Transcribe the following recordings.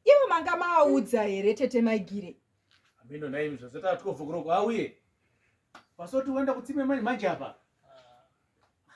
ivo manga maaudza here tete maigire amino naimi zvazota tikovokoroko auye pasoti uenda kutsime manje manje apa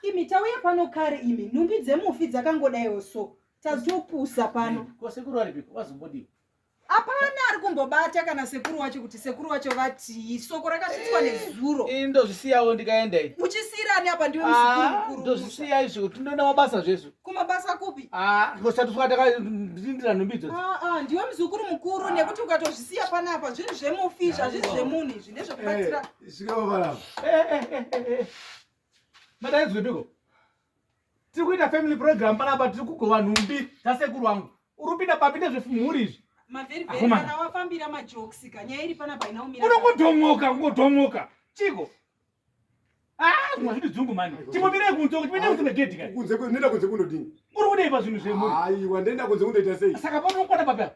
imi tauya pano kare imi nhumbi dzemufi dzakangodaiwo so tazopusa pano kosekuru aripiko vazombodii Hapana ari kumbobata kana sekuru wacho kuti sekuru wacho vatii. Soko rakasvitswa eh, nezuro. Ini ndozvisiyawo ndikaenda iyi. Muchisiira ani apa ndiwe muzukuru ah, mukuru. Ndozvisiya izvo kuti ndoenda mabasa zvezvo. Kumabasa kupi? Ah, ngosati fuka takarindira nhumbi idzo. Ah, ah, ndiwe muzukuru mukuru ah. nekuti ukatozvisiya pana apa zvinhu zvemufi zvazviri zvemunhu izvi nezvekubatsira. Eh, Zvikawo eh, eh, eh, eh. Madaidzwe piko? tiri kuita family program panapa tiri kugova nhumbi tasekuru wangu uri kupinda papi nezvemhuri izvi unongodhomoka ungodhomoka chiko kunzekunoda kunze kunodini uri kudei pazvinhu zvemuriaiwa ndoenda kunze kunoita sei saka paunokwana papi apa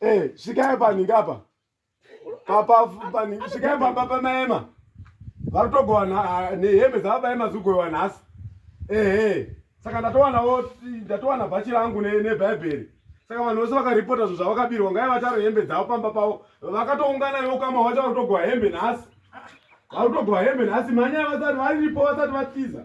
Eh, svikai paningi apa papa paningi svikai pamba pamaema vari kutogovana ah, nehembe dzavabaema zikugoiwa nhasi ehe saka ndatowanawo ndatowana bhachi rangu nebhaibheri saka vanhu vose vakaripota zvinhu zvavakabirwa ngai vataro hembe dzavo pamba pavo vakatoungana ivo kama vacha vari kutogova hembe nhasi vari kutogova hembe nhasi mhanya vasati varipo vasati vatiza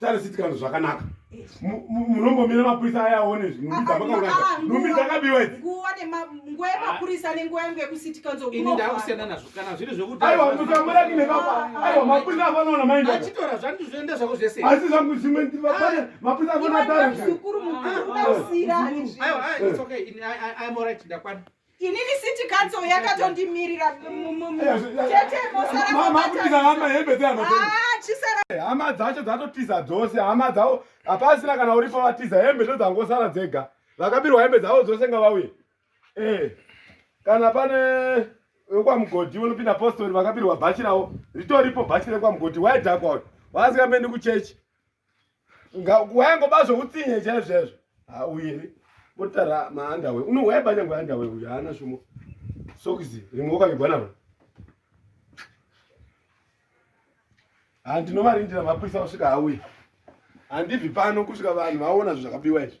tarisiti kana zvakanaka munombomira mapurisa aya aone zvinhumbi dzakabiwa aiwa mapurisa afanoona maindaasi zvangu zvimwe mapurisa afanaa inini city council yakatondimirira hama ah, dzacho dzatotiza dzose hama dzavo hapasina kana uripo vatiza hembe ndo dzangosara dzega vakabirwa hembe dzavo dzose nga vauye eh, kana pane wekwamugodhi unopinda postori vakabirwa bhachi ravo ritoripo bhachi rekwamugoti waidhakwa uyu waasingambendi kuchechi wayangoba zvoutsinye chaizvezvo hauye motara maandawe unohwaya banyangwe andawe uyo haana shumo sokisi rimwe wakavigwa naro handinovarindira mapurisa vasvika hauye handibvi pano kusvika vanhu vaona zvo zvakabiwa izvi